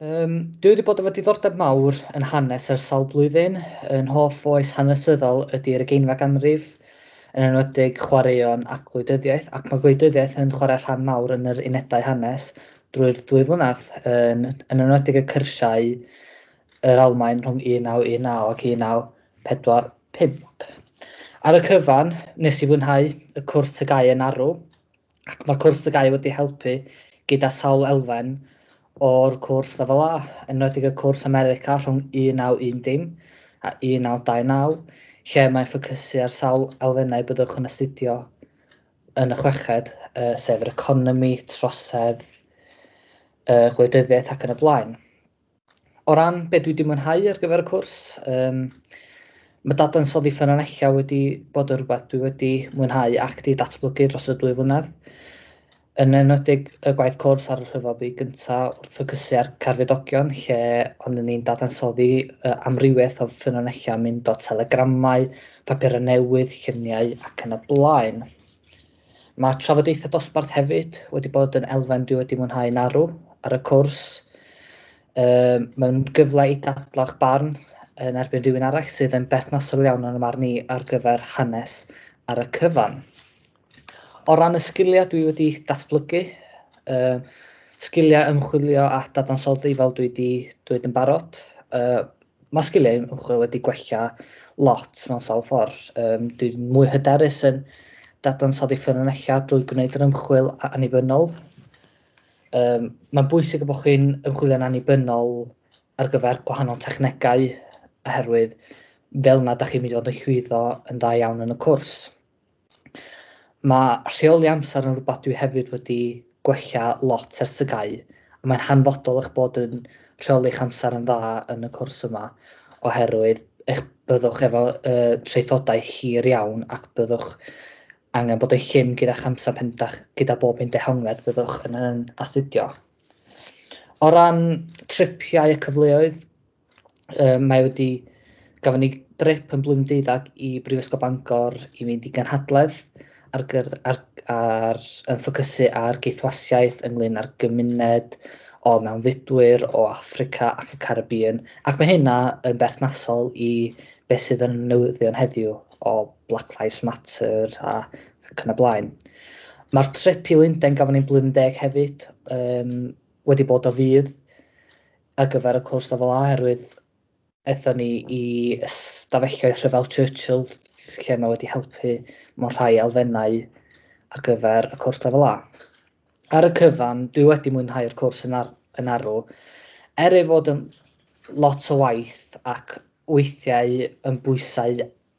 Um, dwi wedi bod efo diddordeb mawr yn hanes ar sawl blwyddyn. Yn hoff oes hanesyddol ydy'r ugeinfa ganrif, yn enwedig chwaraeon ac gwleidyddiaeth, ac mae gwleidyddiaeth yn chwarae rhan mawr yn yr unedau hanes drwy'r ddwy flynedd, yn, yn enwedig y cyrsiau yr Almain rhwng 1919 ac 4, 5. Ar y cyfan, nes i fwynhau y cwrs TGAU yn arw, ac mae'r cwrs TGAU wedi helpu gyda sawl elfen o'r cwrs Lefel A, yn enwedig y cwrs America rhwng 1910 a 1929, lle mae'n ffocysu ar sawl elfennau byddwch yn astudio yn y chweched, uh, sef yr economi, trosedd, uh, gwleidyddiaeth ac yn y blaen. o ran beth dwi wedi mwynhau ar gyfer y cwrs, um, mae dadansoddi ffynonellau wedi bod yn rhywbeth dwi wedi mwynhau ac wedi datblygu dros y dwy flynedd. Yn enwedig y gwaith cwrs ar y rhyfel byd gyntaf wrth ffocysu ar carfedogion lle ond ni'n dadansoddi uh, amrywiaeth o ffynonellau mynd o telegramau, papurau newydd, lluniau ac yn y blaen. Mae trafodaethau dosbarth hefyd wedi bod yn elfen dwi wedi mwynhau yn arw ar y cwrs. Um, mae'n gyfle i dadlau'ch barn yn erbyn rhywun arall sydd yn berthnasol iawn yn y marn i ar gyfer hanes ar y cyfan. O ran y sgiliau dwi wedi datblygu, uh, sgiliau ymchwilio a dadansoddi fel dwi wedi dweud yn barod, uh, Mae sgiliau ymchwil wedi gwella lot mewn sawl ffordd. Um, dwi'n mwy hyderus yn dadansoddi ffynonellau drwy gwneud yr ymchwil annibynnol. Um, mae'n bwysig y bod chi'n ymchwilio'n annibynnol ar gyfer gwahanol technegau oherwydd fel yna da chi'n mynd i fod yn llwyddo yn dda iawn yn y cwrs. Mae rheoli amser yn rhywbeth dwi hefyd wedi gwella lot ers y gau, a mae'n hanfodol eich bod yn rheoli'ch amser yn dda yn y cwrs yma, oherwydd eich byddwch efo uh, traethodau hir iawn ac byddwch angen bod yn llym gyda'ch amser pen dach, gyda bob un dehongled byddwch yn, yn astudio. O ran tripiau y cyfleoedd, um, mae wedi gafon ni drip yn blwyddyn deuddag i Brifysgol Bangor i fynd i ganhadledd ar, gyr, ar, ar, yn ffocysu ar geithwasiaeth ynglyn â'r gymuned o mewnfudwyr o Africa ac y Caribbean ac mae hynna yn berthnasol i beth sydd yn newyddion heddiw o Black Lives Matter a ac yn y blaen. Mae'r trip i Lundain gafon ni'n blwyddyn deg hefyd um, wedi bod o fydd ar gyfer y cwrs lefel A oherwydd aethon ni i stafelloedd rhyfel Churchill lle mae wedi helpu mewn rhai elfennau ar gyfer y cwrs lefel A. Ar y cyfan, dwi wedi mwynhau'r cwrs yn, ar, yn arw. Er ei fod yn lot o waith ac weithiau yn bwysau